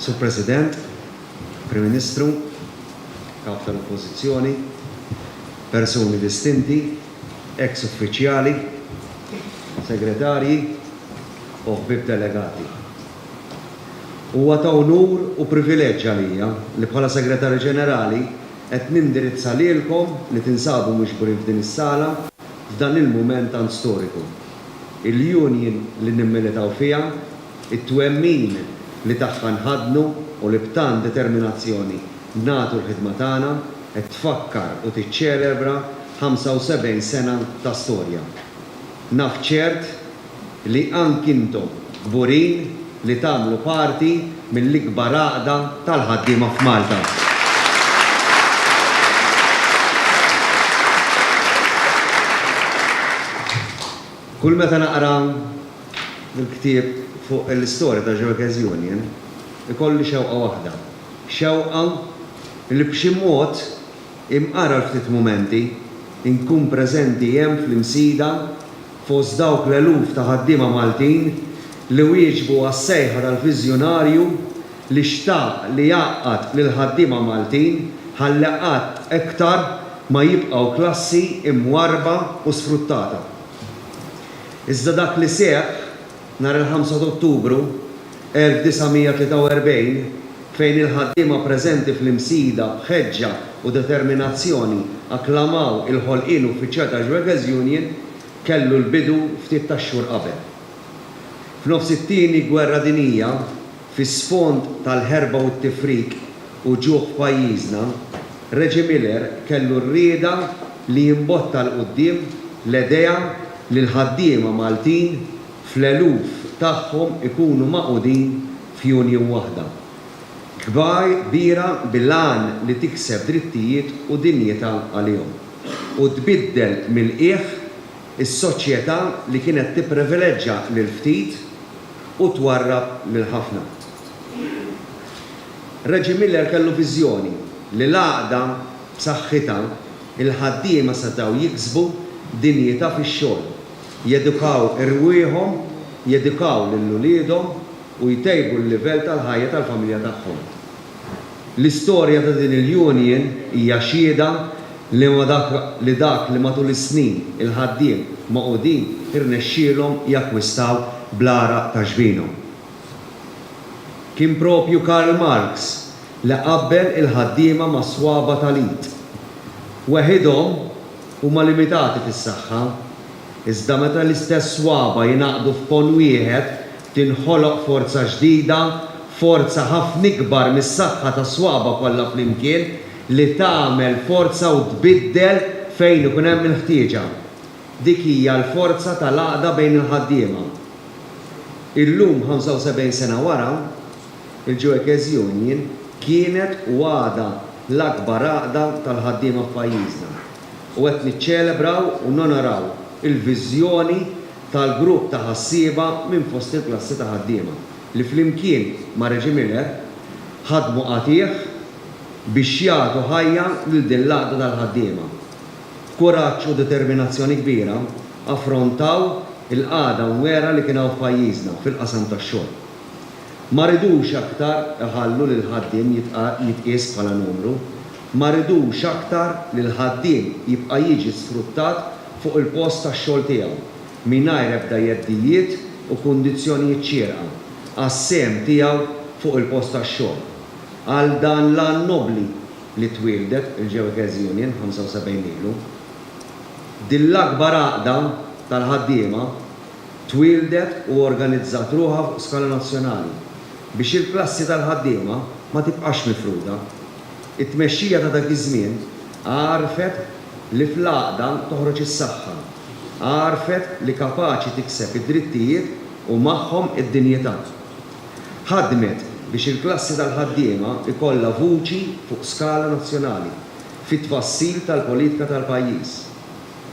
Sur President, Prim Ministru, Kap tal-Oppożizzjoni, persuni distinti, eks uffiċjali, segretarji u ħbieb delegati. Huwa ta' unur u privileġġ għalija li bħala Segretarju Ġenerali qed nindirizza lilkom li tinsabu miġburin f'din is-sala, f'dan il-mument tant storiku. Il-union li nimmilitaw fiha, it-twemmin li tagħha nħaddnu u li b'tant determinazzjoni nagħtu l-ħidma tagħna qed tfakkar u tiċċelebra 75 sena ta' storja. Naf ċert li anki intom kburin li tagħmlu parti mill-ikbar għaqda tal-ħaddiema f'Malta. Kull meta naqra l-ktieb fuq l-istorja tal-Jewkers Union, ikolli xewqa waħda, xewqa li b'xi mod, imqar għal ftit mumenti, inkun preżenti hemm fl-Imsida, fost dawk l-eluf ta' ħaddiema Maltin li wieġbu għas-sejħa tal-viżjonarju li xtaq li jgħaqqad lill-ħaddiema Maltin ħalli qatt iktar ma jibqgħu klassi imwarrba u sfruttata. Iżda dak li seħħ Nhar il-Ħamsa t'Ottubru 1943, fejn il-ħaddiema preżenti fl-Imsida b'ħeġġa u determinazzjoni akklamaw il-ħolqien uffiċjal tax-Schwäger's Union, kellu l-bidu ftit tax-xhur qabel. F'nofs it-Tieni Gwerra Dinjija, Fis-sfond tal-ħerba u t-tifrik u ġuħ f'pajjiżna, Reggie Miller kellu r-rieda li jimbotta 'l quddiem l-edea li l-ħaddiema Maltin fl-eluf tagħhom ikunu magħqudin f'union waħda kbira bil-għan li tikseb drittijiet u dinjità għalihom u tbiddel mill-qiegħ Is-soċjetà li kienet tipprivileġġa lill-ftit u twarrab lill-ħafna. Reggie Miller kellu viżjoni li l-għaqda b'saħħitha, il-ħaddiema setgħu jiksbu dinjità fix-xogħol, jedukaw irwieħhom, jedukaw lil uliedhom u jtejbu l-livell tal-ħajja tal-familja tagħhom. L-istorja ta' din il-union hija xhieda li ma dak li dak li matul is-snin il-ħaddiem magħqudin irnexxielhom jakkwistaw bl-għaraq ta' ġbinhom. Kien proprju Karl Marx li qabbel il-ħaddiema mas-swaba' tal-id. Weħidhom huma limitati fis-saħħa, iżda meta l-istess swaba' jingħaqdu f'pon wieħed Tinħoloq forza ġdida, forza ħafna ikbar mis-saħħa tas-swaba' kollha flimkien, li tagħmel forza u tbiddel fejn ikun hemm il-ħtieġa. Dik hija l-forza tal-għaqda bejn il-ħaddiema. Illum, 75 sena wara, il-Juekez Union kienet u għadha l-akbar għaqda tal-ħaddiema f'pajjiżna u qed niċċelebraw u nonoraw il-viżjoni tal-grupp ta' ħassieba minn fost il-klassi ta' ħaddiema li flimkien ma' Regie Miller ħadmu qatigħ biex jagħtu ħajja lil din l-għaqda tal-ħaddiema. B'kuraġġ u determinazzjoni kbira affrontaw il-qagħda mwiegħra li kien hawn f'pajjiżna fil-qasam tax-xogħol. Ma ridux aktar iħallu li l-ħaddiem jitqies bħala numru. Ma ridux aktar li l-ħaddiem jibqa' jiġi sfruttat fuq il-post tax-xogħol tiegħu mingħajr ebda jeddijiet u kundizzjonijiet xierqa għas-sehem tiegħu fuq il-post tax-xogħol għal dan l-għan nobbli li twieldet il-Jewkes Union 75 ilu. Din l-akbar għaqda tal-ħaddiema twieldet u organizzat ruħha fuq skala nazzjonali biex il-klassi tal-ħaddiema ma tibqax mifruda. It-tmexxija ta' dak iż-żmien għarfet li fl-għaqda toħroġ is-saħħa, għarfet li kapaċi tikseb id-drittijiet u magħhom id-dinjità. Ħadmet biex il-klassi tal-ħaddiema jkollha vuċi fuq skala nazzjonali fit-tfassil tal-politika tal-pajjiż.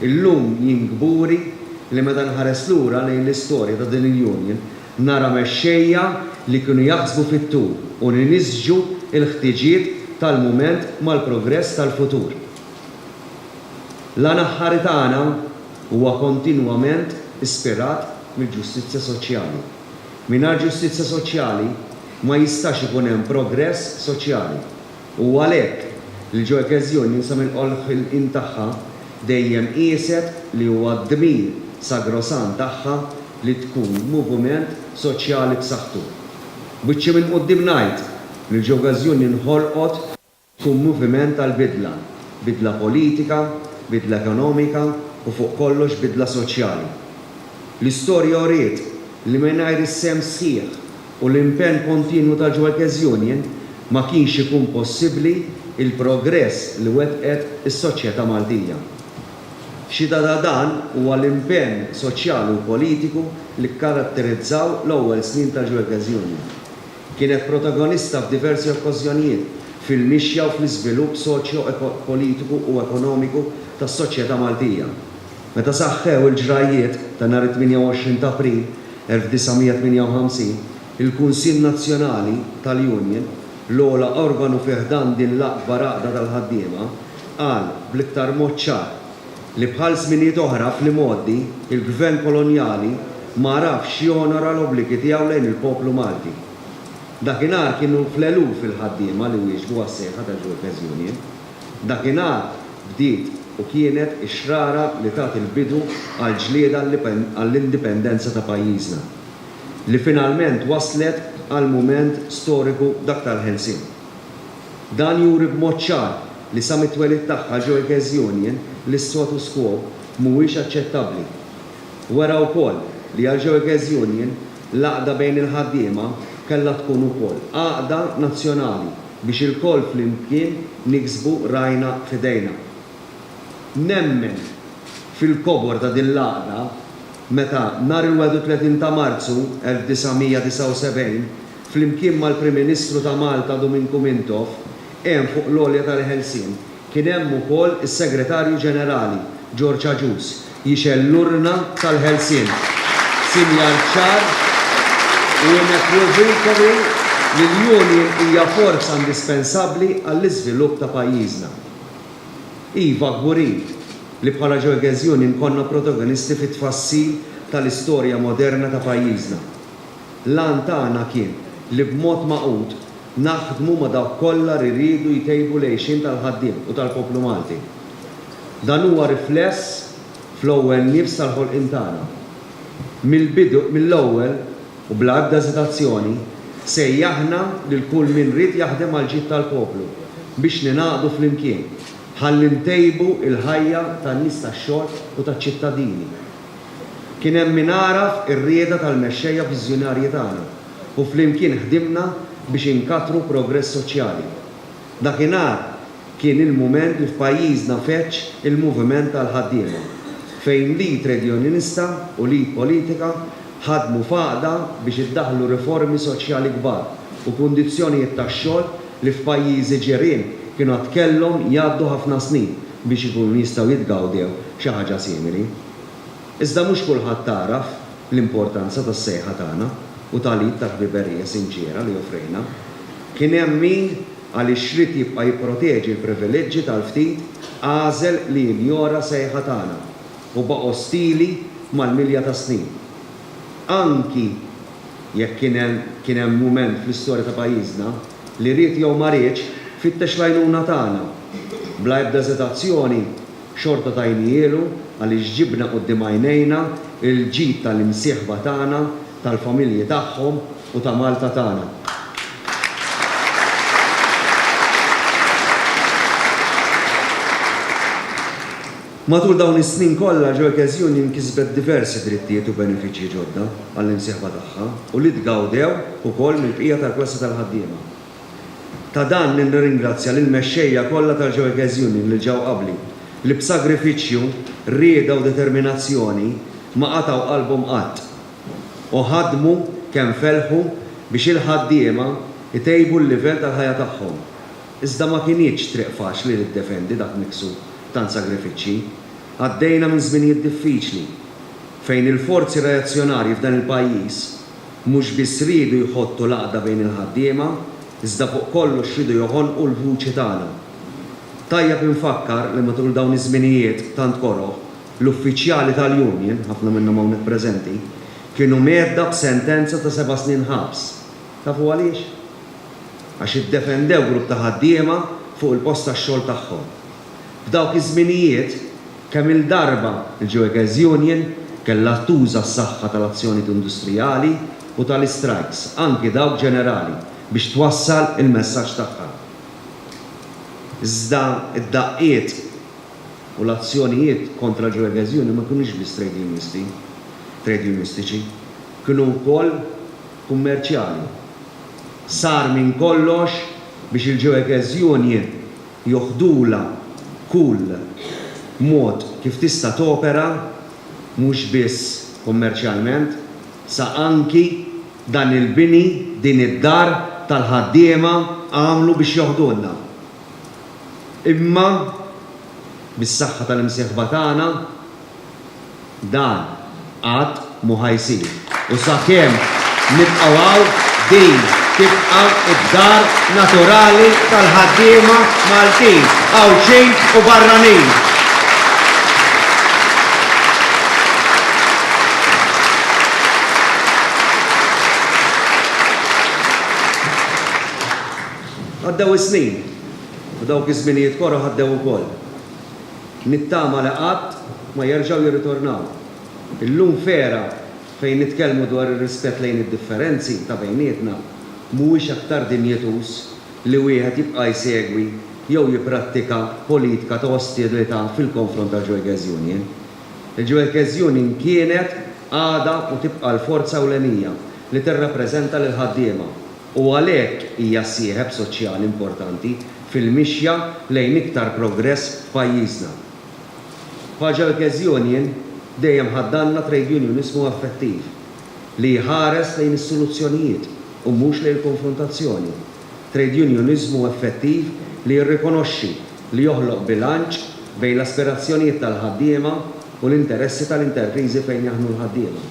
Illum jien kburi li meta nħares lura lejn l-istorja ta' din il-union nara mexxejja li kienu jaħsbu fit-tul u li nisġu l-ħtiġiet tal-mument mal-progress tal-futur. L-għan aħħari tagħna huwa kontinwament ispirat mill-ġustizzja soċjali. Mingħajr ġustizzja soċjali ma jistax ikun hemm progress soċjali. U għalhekk, il-Joy Case Union sa minn qolħ il-qim tagħha dejjem qieset li huwa d-dmir sagrosant tagħha li tkun muvument soċjali b'saħħtu. B'wiċċi minn quddiem ngħid li l-Joy Case Union ħolqot tkun muviment għall-bidla, bidla politika, bidla ekonomika u fuq kollox bidla soċjali. L-istorja uriet li mingħajr is-sehem sħiħ u l-impenn kontinwu ta' Jewelkes Union ma kienx ikun possibbli l-progress li wettqet is-soċjetà Maltija. Xhieda ta' dan huwa l-impenn soċjali u politiku li kkaratterizzaw l-ewwel snin ta' Jewelkes Union. Kienet protagonista f'diversi okkażjonijiet fil-mixja u fl-iżvilupp soċjo-politiku u ekonomiku tas-soċjetà Maltija. Meta saħħew il-ġrajjiet ta' nhar it-28 t'April 1958, il-Kunsill Nazzjonali tal-Union, l-ogħla organu fi ħdan din l-akbar għaqda tal-ħaddiema, qal bl-iktar mod ċar li bħal żminijiet oħra fl-imgħoddi, il-Gvern kolonjali ma għarafx jonora l-obbligi tiegħu lejn il-poplu Malti. Dakinhar kienu fl-eluf il-ħaddiema li wieġbu għas-sejħa tal-Workers' Union. Dakinhar bdiet u kienet ix-xrara li tat il-bidu għall-ġlieda għall-indipendenza ta' pajjiżna, li finalment wasslet għal mument storiku d'aktar ħelsien. Dan juri b'mod ċar li sa mit-twelid tagħha Joy Case Union l-issotus quo mhuwiex aċċettabbli. Wera wkoll li għal Joy Case Union l-għaqda bejn il-ħaddiema kellha tkun ukoll għaqda nazzjonali. biex ilkoll flimkien niksbu rajna f'idejna. Nemmen fil-kobor ta' din l-għaqda meta, nhar il-31 ta' Marzu 1979, flimkien mal-Prim Ministru ta' Malta Duminku Mintoff, għen fuq l-għolja tal-ħelsien, Kien hemm ukoll is-Segretarju Ġenerali, George Agius, jixgħel l-urna tal-ħelsien, sinjal ċar u inequivokabli li l-union hija forza indispensabbli għall-iżvilupp ta' pajjiżna. Iva, kburin li bħala Gioeges Union konna protagonisti fit-tfassil tal-istorja moderna ta' pajjiżna. L-għan tagħna kien li b'mod magħqud naħdmu ma' dawk kollha li riedu jtejbu l-għixien tal-ħaddiem u tal-poplu Malti. Dan huwa rifless fl-ewwel nifs tal-ħolqien tagħna. Mill-bidu, mill-ewwel u bla ebda eżitazzjoni, sejjaħna lil kull min ried jaħdem għall-ġid tal-poplu biex ningħaqdu flimkien ħalli ntejbu l-ħajja tan-nies tax-xogħol u taċ-ċittadini. Kien hemm min għaraf ir-rieda tal-mexxejja viżjonarji tagħna u flimkien ħdimna biex inkattru progress soċjali. Dakinhar kien il-mument li f'pajjiżna feġġ il-moviment tal-ħaddiema, fejn l-id tredjunjonista u l-id politika ħadmu f'għaqda biex iddaħħlu riformi soċjali kbar u kundizzjonijiet tax-xogħol li f'pajjiżi ġirien kienu għad kellhom jgħaddu ħafna snin biex ikunu jistgħu jitgawdew xi ħaġa simili. Iżda mhux kulħadd għaraf l-importanza tas-sejħa tagħna u tal-id ta' ħbiberija sinċiera li offrejna. Kien hemm min, għaliex ried jibqa' jipproteġi l-privileġġi tal-ftit, għażel li jinjora sejħa tagħna u baqa' ostili mal-milja tas-snin. Anki jekk kien hemm kien hemm mument fl-istorja ta' pajjiżna li ried jew ma riedx, fittex l-għajnuna tagħna. Bla ebda eżitazzjoni, Xorta tajnihielu għaliex ġibna quddiem għajnejna l-ġid tal-imsieħba tagħna, tal-familji tagħhom u ta' Malta tagħna. Matul dawn is-snin kollha, Joycas Union kisbet diversi drittijiet u benefiċċji ġodda għall-imsieħba tagħha u li tgawdew ukoll mill-bqija tal-klassi tal-ħaddiema. Ta' dan li nirringrazzja lill-mexxejja kollha tal-Joekes Union li ġew qabli, li b'sagrifiċċju, rieda u determinazzjoni ma qatgħu qalbhom qatt, u ħadmu kemm felħu biex il-ħaddiema jtejbu l-livell tal-ħajja tagħhom. Iżda ma kinitx triq faċli li ddefendi dak miksub tant sagrifiċċji. Għaddejna minn żminijiet diffiċli, fejn il-forzi reazzjonarji f'dan il-pajjiż, Mhux biss riedu jħottu l-għaqda bejn il-ħaddiema, iżda fuq kollox riedu joħonqu l-vuċi tagħna. Tajjeb infakkar li matul dawn iż-żminijiet tant koroh, l-uffiċjali tal-union, ħafna minnhom hawnhekk preżenti, kienu mgħedda b'sentenza ta' seba' snin ħabs. Tafu għaliex? Għax iddefendew grupp ta' ħaddiema fuq il-post tax-xogħol tagħhom. F'dawk iż-żminijiet, Kemm-il darba l-Geogas Union kellha tuża s-saħħa tal-azzjonijiet industrijali u tal-istrajks, anki dawk ġenerali, biex twassal il-messaġġ tagħha. Iżda d-daqqiet u l-azzjonijiet kontra l-Geogas Union ma kinux biss trejdjunisti, trejdjunistiċi, kienu wkoll kummerċjali. Sar minn kollox biex il-Geogas Union joħdulha kull mod kif tista' topera mhux biss kummerċjalment, sa anki dan il-bini, din id-dar tal-ħaddiema għamlu biex joħdulna. Imma bis-saħħa tal-imsieħba tagħna, Dan qatt mhu ħa jsir u sakemm nibqgħu hawn din tibqa' d-dar naturali tal-ħaddiema Maltin, Għawdxin u barranin. Għaddew is-snin u dawk iż-żminijiet koroh għaddew ukoll. Nittama li qatt ma jerġgħu jirritornaw. Illum f'era fejn nitkellmu dwar ir-rispett lejn id-differenzi ta' bejnietna, mhuwiex aktar dinjituż li wieħed jibqa' jsegwi jew jipprattika politika ta' ostilità fil-konfront tal-Gioilkes Union? Il-Gioilkes Union kienet, għadha u tibqa' l-forza ewlenija li tirrappreżenta lill-ħaddiema. u għalhekk hija sieħeb soċjali importanti fil-mixja lejn iktar progress f'pajjiżna. Bħaġa li Case Union dejjem ħaddgħalna trejdjunjuniżmu effettiv li jħares lejn is-soluzzjonijiet u mhux lejn il-konfrontazzjoni, trejdjunjuniżmu effettiv li jirrikonoxxi li joħloq bilanċ bejn l-aspirazzjonijiet tal-ħaddiema u l-interessi tal-interpriżi fejn jaħdmu l-ħaddiema.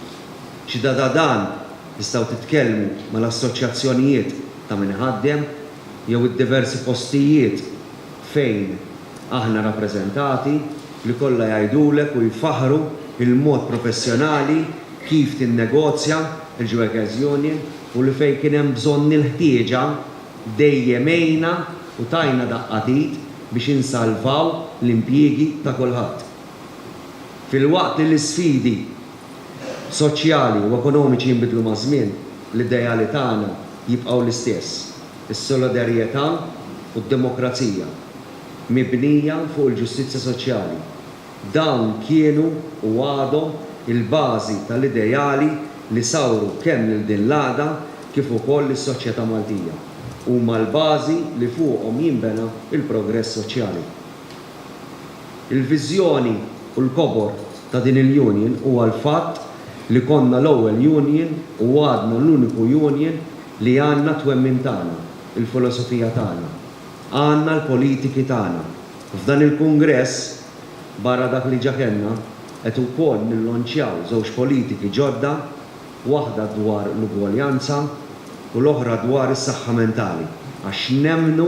Ġdadadan Tistgħu titkellmu mal-assoċjazzjonijiet ta' min iħaddem jew id-diversi postijiet fejn aħna rappreżentati li kollha jgħidulek u jfaħħru l-mod professjonali kif tinnegozja l-Jewekers Union u li fejn kien hemm bżonn il-ħtieġa dejjem għejna u tajna daqqa t'id biex insalvaw l-impjiegi ta' kulħadd filwaqt li l-isfidi soċjali u ekonomiċi jinbidlu maż-żmien, l-ideali tagħna jibqgħu l-istess, is-solidarjetà u d-demokrazija mibnija fuq il-ġustizzja soċjali. Dawn kienu u għadhom il-bażi tal-ideali li sawru kemm lil din l-għaqda kif ukoll lis-soċjetà Maltija. Huma l-bażi li fuqhom jinbena l-progress soċjali. Il-viżjoni u l-kobor ta' din il-union huwa l-fatt li konna l-ewwel union u għadna l-uniku union li għandna t-twemmin tagħna, il-filosofija tagħna, għandna l-politiki tagħna. F'dan il-kungress, barra dak li ġa kellna, qed ukoll nillonċjaw żewġ politiki ġodda, waħda dwar l-ugwaljanza u l-oħra dwar is-saħħa mentali, għax nemmnu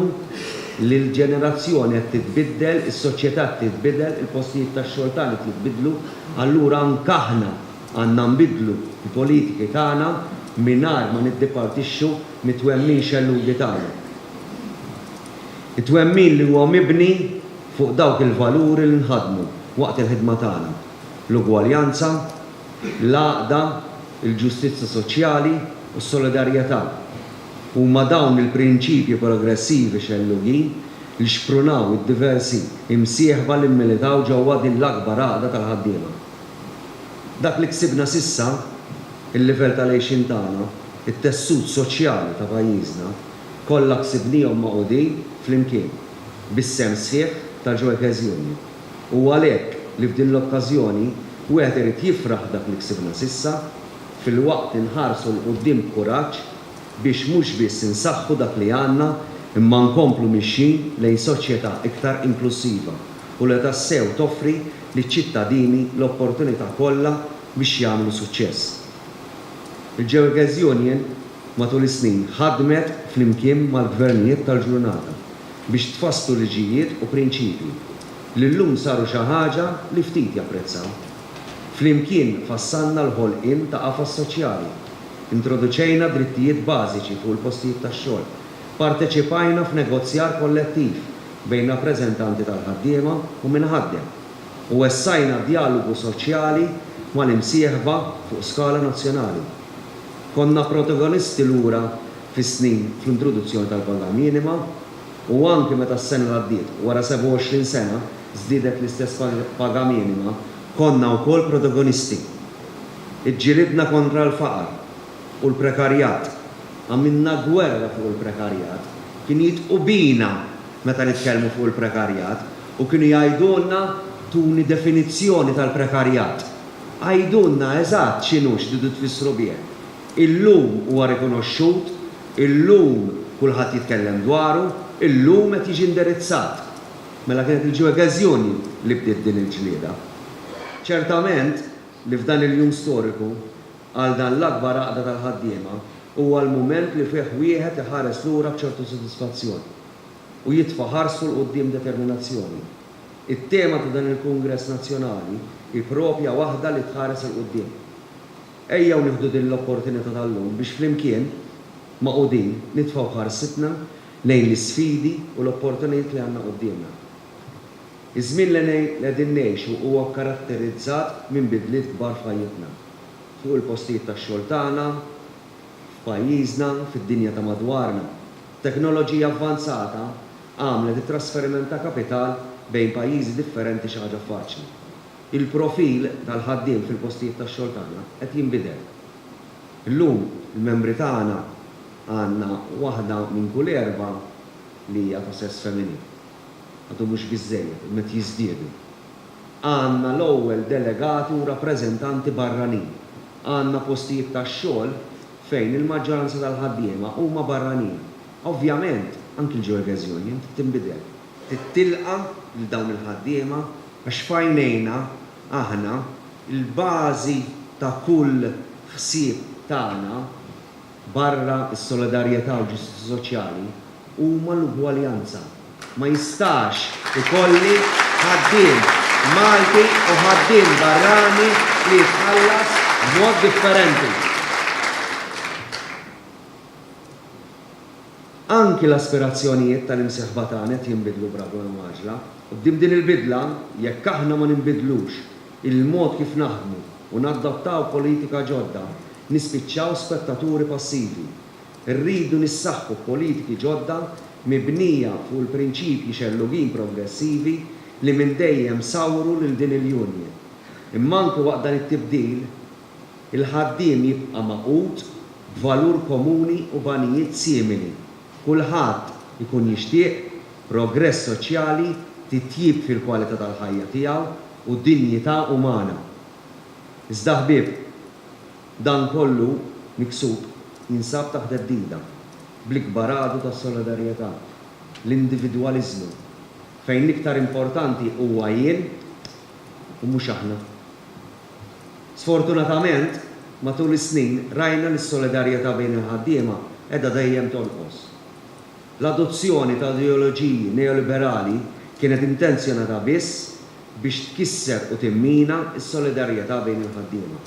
li l-ġenerazzjoni qed titbiddel, is-soċjetà qed titbidel, il-postijiet tax-xogħol tagħna qed jitbiddlu, allura anke aħna għandna nbiddlu l-politiki tagħna mingħajr ma niddipartixxu mit-twemmin xellughi tagħna. It-twemmin li huwa mibni fuq dawk il-valuri li nħaddmu waqt il-ħidma tagħna, l-ugwaljanza, l-għaqda, il-ġustizzja soċjali u s-solidarjetà. Huma dawn il-prinċipji progressivi xellugin li xprunaw id-diversi imsieħba li mmilitaw ġewwa din l-akbar għaqda tal-ħaddiema. Dak li ksibna s'issa, il-livell tal-għixien tagħna, it-tessut soċjali ta' pajjiżna, kollha ksibniehom magħqudin flimkien, bis-sehem sħiħ tal-Joy Case Union. Hu għalhekk li f'din l-okkażjoni wieħed irid jifraħ dak li ksibna s'issa, filwaqt li nħarsu 'l quddiem b'kuraġġ biex mhux biss insaħħu dak li għandna imma nkomplu mixjin lejn soċjetà iktar inklussiva u li tassew toffri liċ-ċittadini l-opportunità kollha biex jagħmlu suċċess. Il-Gewerkes Union matul is-snin ħadmet flimkien mal-gvernijiet tal-ġurnata biex tfasslu liġijiet u prinċipji li llum saru xi ħaġa li ftit japprezzaw. Flimkien fassalna l-ħolqien ta' qafas soċjali, introduċejna drittijiet bażiċi fuq il-postijiet tax-xogħol, parteċipajna f'negozjar kollettiv bejn rappreżentanti tal-ħaddiema u min iħaddem, u wessajna d-djalogu soċjali mal-imsieħba fuq skala nazzjonali. Konna protagonisti lura fis-snin fl-introduzzjoni tal-paga minima u anki meta s-sena li għaddiet, wara 27 sena, żdiedet l-istess paga minima, konna wkoll protagonisti. Iġġilidna kontra l-faqar u l-prekarjat. Għamilna gwerra fuq il-prekarjat. Kienu jidqu bina meta nitkellmu fuq il-prekarjat u kienu jgħidulna tuni definizzjoni tal-prekarjat. Għidulna eżatt x'inhu, x'tridu tfissru bih. Illum huwa rikonoxxut, illum kulħadd jitkellem dwaru, illum qed jiġi indirizzat. Mela kienet il-Ġewegeżjoni li bdiet din il-ġlieda. Ċertament li f'dan il-jum storiku, għal dan l-akbar għaqda tal-ħaddiema, huwa l-mument li fih wieħed iħares lura b'ċertu sodisfazzjon u jitfa' ħarsu 'l quddiem b'determinazzjoni. It-tema ta' dan il-Kungress Nazzjonali hi proprja waħda li tħares 'il quddiem. Ejjew nieħdu din l-opportunità tal-lum biex flimkien, magħqudin, nitfgħu ħarsitna lejn l-isfidi u l-opportunitajiet li għandna quddiemna. Iż-żmien li qegħdin ngħixu huwa kkaratterizzat minn bidliet kbar f'ħajjitna, fuq il-postijiet tax-xogħol tagħna, F'pajjiżna, fid-dinja ta' madwarna, teknoloġija avvanzata għamlet it-trasferiment ta' kapital bejn pajjiżi differenti xi ħaġa faċli. Il-profil tal-ħaddiem fil-postijiet tax-xogħol tagħna qed jinbidel. Illum, il-membri tagħna għandna waħda minn kull erbgħa li hija ta' sess feminin. Għadu mhux biżżejjed, imma qed jiżdiedu. Għandna l-ewwel delegati u rappreżentanti barranin Għandna postijiet tax-xogħol fejn il-maġġoranza tal-ħaddiema huma barranin. Ovvjament, anki l-Georges Union trid tinbidel. Trid tilqa' lil dawn il-ħaddiema għax f'għajnejna aħna, il-bażi ta' kull ħsieb tagħna, Barra s-solidarjetà u l-ġustizzja soċjali huma l-ugwaljanza. Ma jistax ikolli ħaddiem Malti u ħaddiem barrani li jitħallas b'mod differenti. Anki l-aspirazzjonijiet tal-imsieħba tagħna qed jinbidlu b'ragwal mgħaġġla. Quddiem din il-bidla, jekk aħna ma ninbidlux il-mod kif naħdmu, u nadottaw politika ġodda, nispiċċaw spettaturi passivi. Irridu nissaħħu b'politiki ġodda mibnija fuq il-prinċipji xellugin progressivi li minn dejjem sawru lil din il-union. Imma anki waqt dan it-tibdil, il-ħaddiem jibqa' magħqud b'valur komuni u b'għanijiet simili. Kulħadd ikun jixtieq progress soċjali, titjib fil-kwalità tal-ħajja tiegħu, u dinjità umana. Iżda ħbieb, dan kollu miksub jinsab taħt theddida bl-ikbar għadu tas-solidarjetà, l-individwaliżmu, fejn l-iktar importanti huwa jien u mhux aħna. Sfortunatament, matul is-snin rajna li s-solidarjetà bejn il-ħaddiema qiegħda dejjem tonqos. L-adozzjoni ta' ideoloġiji neoliberali kienet intenzjonata biss biex tkisser u timmina s-solidarjetà bejn il-ħaddiema.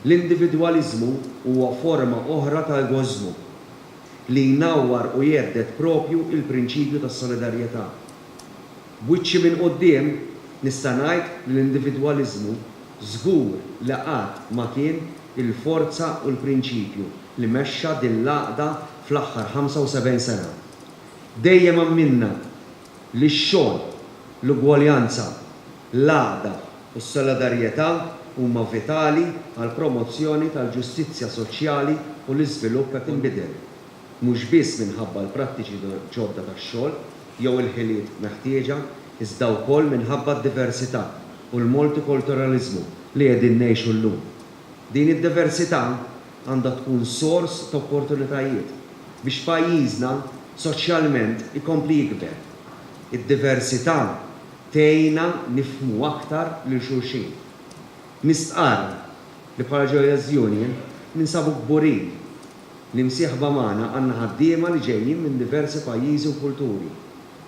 L-individwaliżmu huwa forma oħra ta' egoiżmu, li jnawwar u jhedded proprju l-prinċipju tas-solidarjetà. B'wiċċi minn quddiem, nista' ngħid li l-individwaliżmu żgur li qatt ma kien il-forza u l-prinċipju li mexxa din l-għaqda fl-aħħar 75 sena. Dejjem amminna li x-xogħol, l-ugwaljanza, l-għaqda u s-solidarjetà huma vitali għall-promozzjoni tal-ġustizzja soċjali u l-iżvilupp qed inbidel, mhux biss minħabba l-prattiċi ġodda tax-xogħol jew il-ħiliet meħtieġa, iżda wkoll minħabba d-diversità u l-multikulturaliżmu li qegħdin ngħixu llum. Din id-diversità għandha tkun sors ta' opportunitajiet biex pajjiżna soċjalment ikompli jikber. Id-diversità tgħinna nifhmu aktar lil xulxin. Nistqarr li bħala Joyous Union ninsabu kburin li msieħba magħna għandna ħaddiema li ġejjin minn diversi pajjiżi u kulturi.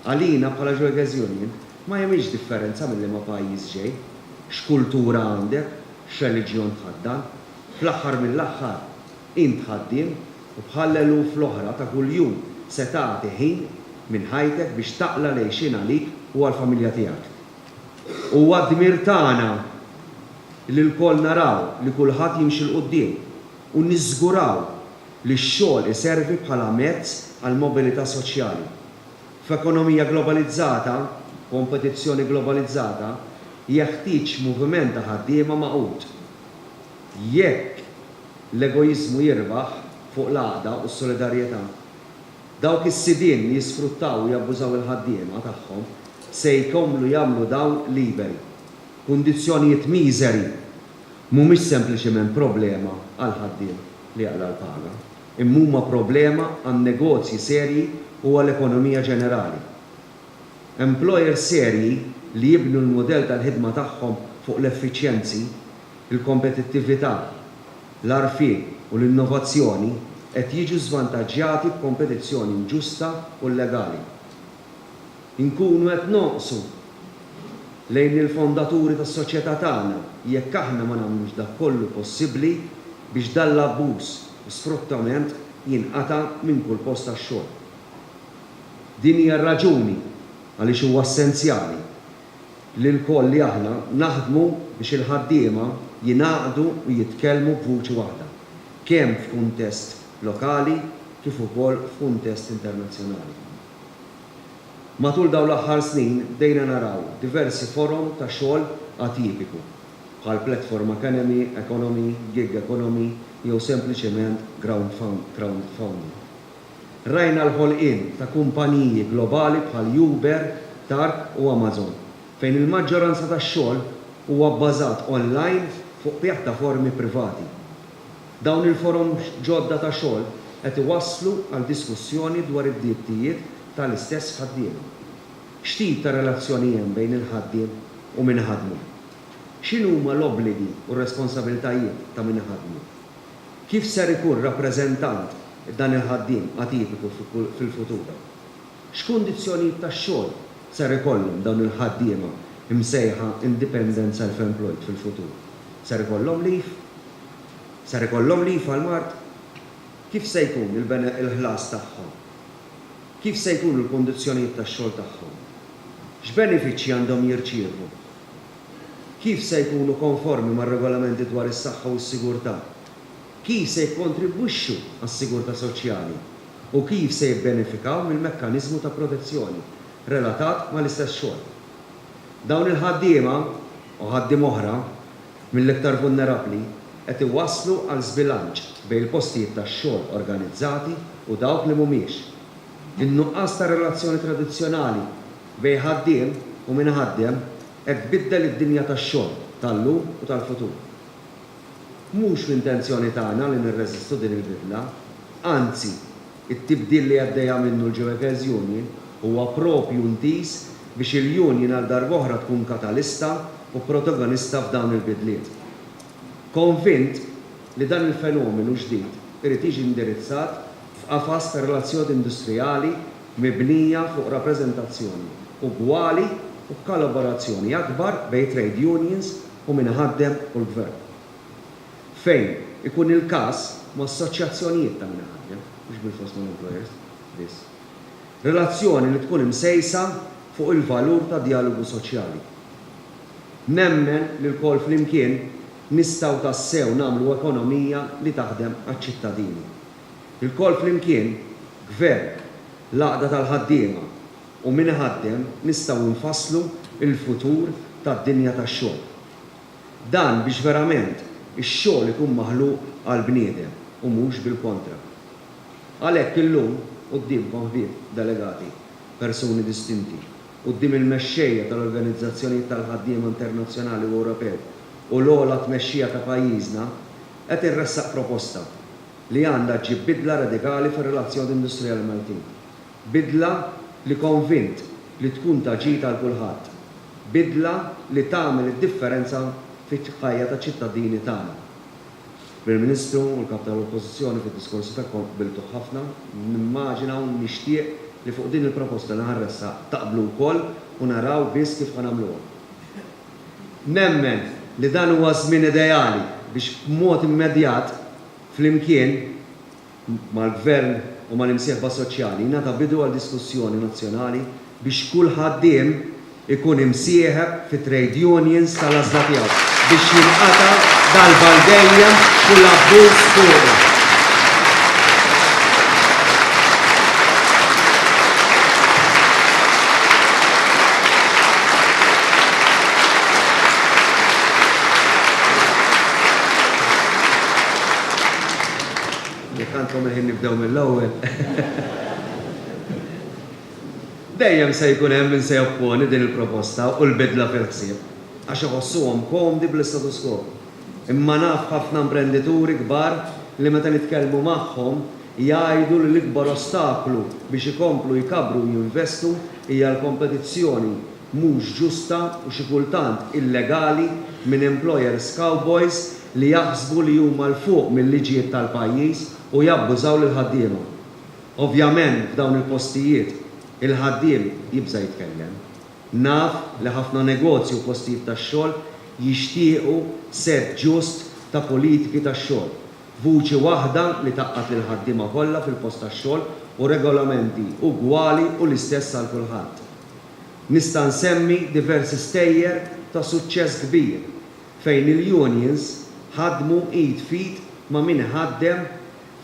Għalina bħala Joyous Union ma jagħmilx differenza minn liema pajjiż ġej, x'kultura għandek, x'reliġjon tħaddan. Fl-aħħar mill-aħħar, int ħaddiem u bħal l-eluf l-oħra ta' kuljum se tagħti ħin minn ħajtek biex taqla' l-għixien għalik u għall-familja tiegħek. Huwa d-dmir tagħna li lkoll naraw li kulħadd jimxi 'l quddiem u niżguraw li x-xogħol iservi bħala mezz għall-mobilità soċjali. F'ekonomija globalizzata, kompetizzjoni globalizzata, jeħtieġ moviment ta' ħaddiema magħqud. Jekk l-egoiżmu jirbaħ fuq l-għaqda u s-solidarjetà, dawk is-sidien li jisfruttaw u jabbużaw il-ħaddiema tagħhom se jkomplu jagħmlu dawl liberi. Kundizzjonijiet miżeri mhumiex sempliċiment problema għall-ħaddiem li jaqla' l-paga, imma huma problema għan-negozji serji u għall-ekonomija ġenerali. Employers serji li jibnu l-mudell tal-ħidma tagħhom fuq l-effiċjenzi, il-kompetittività, l-għarfien u l-innovazzjoni qed jiġu żvantaġġjati b'kompetizzjoni inġusta u llegali. Inkunu qed nonqsu lejn il-fondaturi tas-soċjetà tagħna jekk aħna ma nagħmlux dak kollu possibbli biex dan l-abbuż u sfruttament jinqata' minn kull post tax-xogħol. Din hija r-raġuni għaliex huwa essenzjali li lkoll li aħna naħdmu biex il-ħaddiema jingħaqdu u jitkellmu b'vuċi waħda, kemm f'kuntest lokali kif ukoll f'kuntest internazzjonali. Matul dawn l-aħħar snin bdejna naraw diversi forom ta' xogħol atipiku, bħal platform economy, economy, gig economy jew sempliċement crowdfunding. Rajna l-ħolqien ta' kumpaniji globali bħal Uber, Tark u Amazon, fejn il-maġġoranza tax-xogħol huwa bbażat online fuq pjattaformi privati. Dawn il-forom ġodda ta' xogħol qed iwasslu għal diskussjoni dwar id-drittijiet tal-istess ħaddiema. X'tip ta' relazzjoni hemm bejn il-ħaddiem u min iħaddmu? X'inhuma l-obbligi u r-responsabilitajiet ta' min iħaddmu? Kif ser ikun rappreżentant dan il-ħaddiem atipiku fil-futur? X'kundizzjonijiet tax-xogħol ser ikollhom dawn il-ħaddiema msejħa independent self-employed fil-futur? Ser ikollhom leave? Ser ikollhom leave għall-mard? Kif se jkun il-ħlas tagħhom? Kif se jkunu l-kundizzjonijiet tax-xogħol tagħhom? X'benefiċċji għandhom jirċievu? kif se jkunu konformi mar-Regolamenti dwar is-Saħħa u s-Sigurtà, kif se jikkontribwixxu għas-sigurtà soċjali u kif se jibbenefikaw mill-mekkaniżmu ta' protezzjoni relatat mal-istess xogħol. Dawn il-ħaddiema, u ħaddiem oħra, mill-iktar vulnerabbli, qed iwasslu għal żbilanċ bejn il-postijiet tax-xogħol organizzati u dawk li mhumiex. In-nuqqas ta' relazzjoni tradizzjonali Bejn ħaddiem u min iħaddem, hekk tbiddel id-dinja tax-xogħol tal-lum u tal-futur. Mhux l-intenzjoni tagħna li nirreżistu din il-bidla, anzi, it-tibdil li għaddejja minnu l-Jewekers Union huwa proprju ntiż biex il-Union għal darb'oħra tkun katalista u protagonista f'dawn il-bidliet. Konvint li dan il-fenomenu ġdid irid jiġi indirizzat f'qafas ta' relazzjoni industrijali mibnija fuq rappreżentazzjoni ugwali u b'kalaborazzjoni akbar bejn trade unions u min iħaddem u l-gvern. Fejn ikun il-każ, ma' assoċjazzjonijiet ta' min iħaddem, mhux bilfors mal-employers biss. Relazzjoni li tkun imsejsa fuq il-valur tad-djalogu soċjali. Nemmen li lkoll flimkien nistgħu tassew nagħmlu ekonomija li taħdem għaċ-ċittadini. Ilkoll flimkien, Gvern, l-għaqda tal-ħaddiema u min iħaddem nistgħu nfasslu l-futur tad-dinja tax-xogħol. Dan biex verament ix-xogħol ikun maħluq għall-bniedem u mhux bil-kontra. Għalhekk illum quddiemkom ħbieb delegati, persuni distinti, quddiem il-mexxejja tal-organizzazzjonijiet tal-ħaddiema internazzjonali u Ewropew u l-ogħla tmexxija ta' pajjiżna, qed irressaq proposta li għandha ġġib bidla radikali fir-relazzjoni industrijali Maltin. Bidla li konvint li tkun ta' ġid għal kulħadd. Bidla li tagħmel id-differenza fil-ħajja taċ-ċittadini tagħna. Prim Ministru u l-Kap tal-Oppożizzjoni fid-diskorsi tagħkom qbiltuh ħafna, nimmaġina u nixtieq li fuq din il-proposta li ħa nressaq taqblu wkoll u naraw biss kif ħa nagħmluha. Nemmen li dan huwa ż-żmien ideali biex b'mod immedjat, flimkien, mal-Gvern u mal-imsieħba soċjali jingħata bidu għal diskussjoni nazzjonali biex kull ħaddiem ikun imsieħeb fit-trade unions tal-għażla tiegħu biex jinqata' darba għal dejjem kull abbuż fuqu. Jekk għandkom il-ħin nibdew mill-ewwel. Dejjem se jkun hemm min se jopponi din il-proposta u l-bidla fil-ħsieb għax iħossuhom komdi bl-istatus quo. Imma naf ħafna imprendituri kbar li meta nitkellmu magħhom jgħidu li l-ikbar ostaklu biex ikomplu jkabbru u jinvestu hija l-kompetizzjoni mhux ġusta u xi kultant illegali minn employers cowboys li jaħsbu li huma 'l fuq mil-liġijiet tal-pajjiż u jabbużaw lill-ħaddiema. Ovvjament f'dawn il-postijiet, il-ħaddiem jibża' jitkellem. Naf li ħafna negozji u postijiet tax-xogħol jixtiequ sett ġust ta' politiki tax-xogħol, vuċi waħda li tgħaqqad lill-ħaddiema kollha fil-post tax-xogħol u regolamenti ugwali u l-istess għal kulħadd. Nista' nsemmi diversi stejjer ta' suċċess kbir fejn il-unions ħadmu id f'id ma' min iħaddem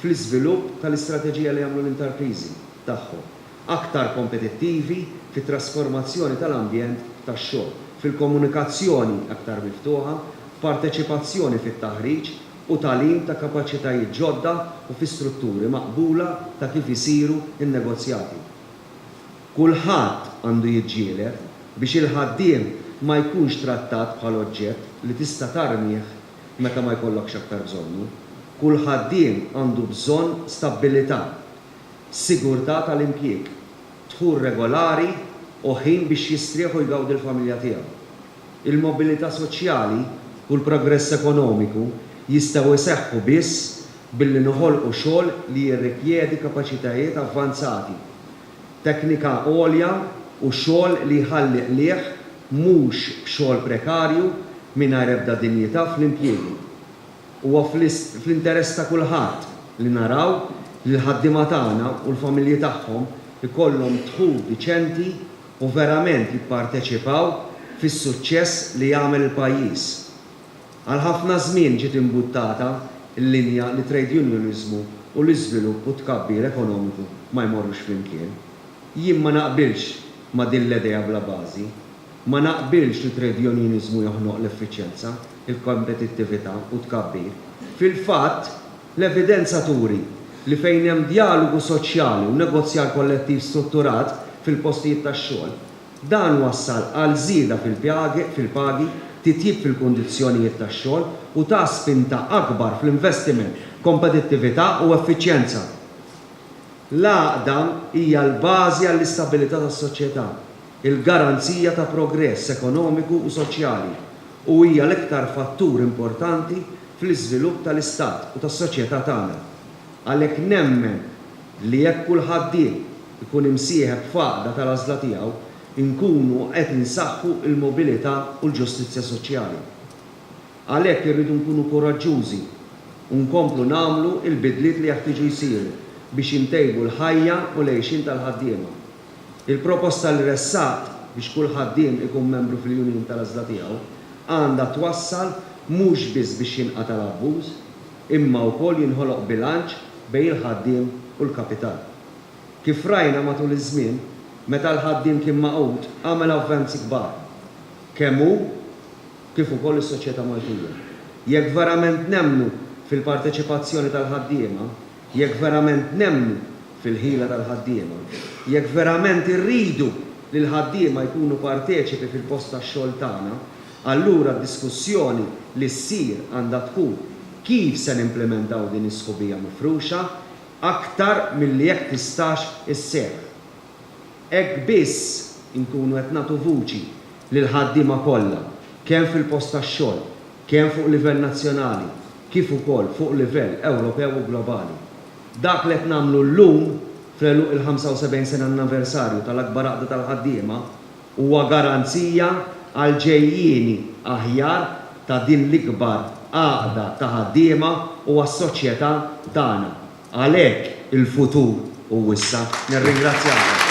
fl-iżvilupp tal-istrateġija li jagħmlu l-intarpriżi tagħhom aktar kompetittivi fit-trasformazzjoni tal-ambjent tax-xogħol, fil-komunikazzjoni aktar miftuħa, f'parteċipazzjoni fit-taħriġ u tagħlim ta' kapaċitajiet ġodda u fi strutturi maqbula ta' kif isiru n-negozjati. Kulħadd għandu jiġġieled biex il-ħaddiem ma jkunx trattat bħal oġġett li tista' tarmih meta ma jkollokx aktar bżonnu. Kull ħaddiem għandu bżonn stabbilità, sigurtà tal-impjieg, dħul regolari u ħin biex jistrieħ u jgawdi l-familja tiegħu. Il-mobilità soċjali u l-progress ekonomiku jistgħu jseħħu biss billi noħolqu xogħol li jirrikjedi kapaċitajiet avvanzati teknika għolja u xogħol li jħalli qligħ mhux xogħol prekarju mingħajr ebda dinjità fl-impjiegi. Huwa fl-interess ta' kulħadd li naraw li l-ħaddiema tagħna u l-familji tagħhom ikollhom dħul diċenti u verament jipparteċipaw fis-suċċess li jagħmel il-pajjiż. Għal ħafna żmien ġiet imbuttata l-linja li trade unioniżmu u l-iżvilupp u t-tkabbir ekonomiku ma jmorrux flimkien. Jien ma naqbilx ma' din l-edea bla bażi. Ma naqbilx li trade unioniżmu joħnoq l-effiċjenza, il-kompetittività u t-tkabbir. Fil-fatt, l-evidenza turi li fejn hemm djalogu soċjali u negozjar kollettiv strutturat fil-postijiet tax-xogħol, Dan wassal għal żieda fil-pagi, titjib fil-kundizzjonijiet tax-xogħol u ta spinta akbar fl-investiment, kompetittività u effiċjenza. L-għaqda hija l-bażi għall-istabilità tas-soċjetà, il-garanzija ta' progress ekonomiku u soċjali u hija l-iktar fattur importanti fl-iżvilupp tal-istat u tas-soċjetà tagħna. Għalhekk nemmen. li jekk kull ħaddiem ikun imsieħeb f'għaqda tal-għażla tiegħu, inkunu qed insaħħu l-mobilità u l-ġustizzja soċjali. Għalhekk irridu nkunu kuraġġużi u nkomplu nagħmlu l-bidliet li jeħtieġu jsiru biex intejbu l-ħajja u l-għejxien tal-ħaddiema. Il-proposta li ressaqt biex kull ħaddiem ikun membru fil-union tal-għażla tiegħu għandha twassal mhux biss biex jinqata' l-abbuż, imma wkoll jinħoloq bilanċ bejn il-ħaddiem u l-kapital. Kif rajna matul iż-żmien, meta l-ħaddiem kien magħqud għamel avvanzi kbar, kemm hu kif ukoll is-soċjetà Maltija. Jekk verament nemmnu fil-parteċipazzjoni tal-ħaddiema, jekk verament nemmnu fil-ħila tal-ħaddiema, jekk verament irridu li l-ħaddiema jkunu parteċipi fil-post tax-xogħol tagħna, Allura d-diskussjoni li ssir għandha tkun kif se nimplimentaw din is-sħubija mifruxa aktar milli jekk tistax isseħħ. Hekk biss inkunu qed nagħtu vuċi lill-ħaddiema kollha kemm fil-post tax-xogħol, kemm fuq livell nazzjonali kif ukoll fuq livell Ewropew u globali. Dak li qed nagħmlu llum fl-għeluq il-75 sena annaversarju tal-akbar għaqda tal-ħaddiema, Huwa garanzija għal ġejjieni aħjar ta' din l-ikbar għaqda ta' ħaddiema u għas-soċjetà tagħna. Għalhekk il-futur hu issa. Nirringrazzjakom.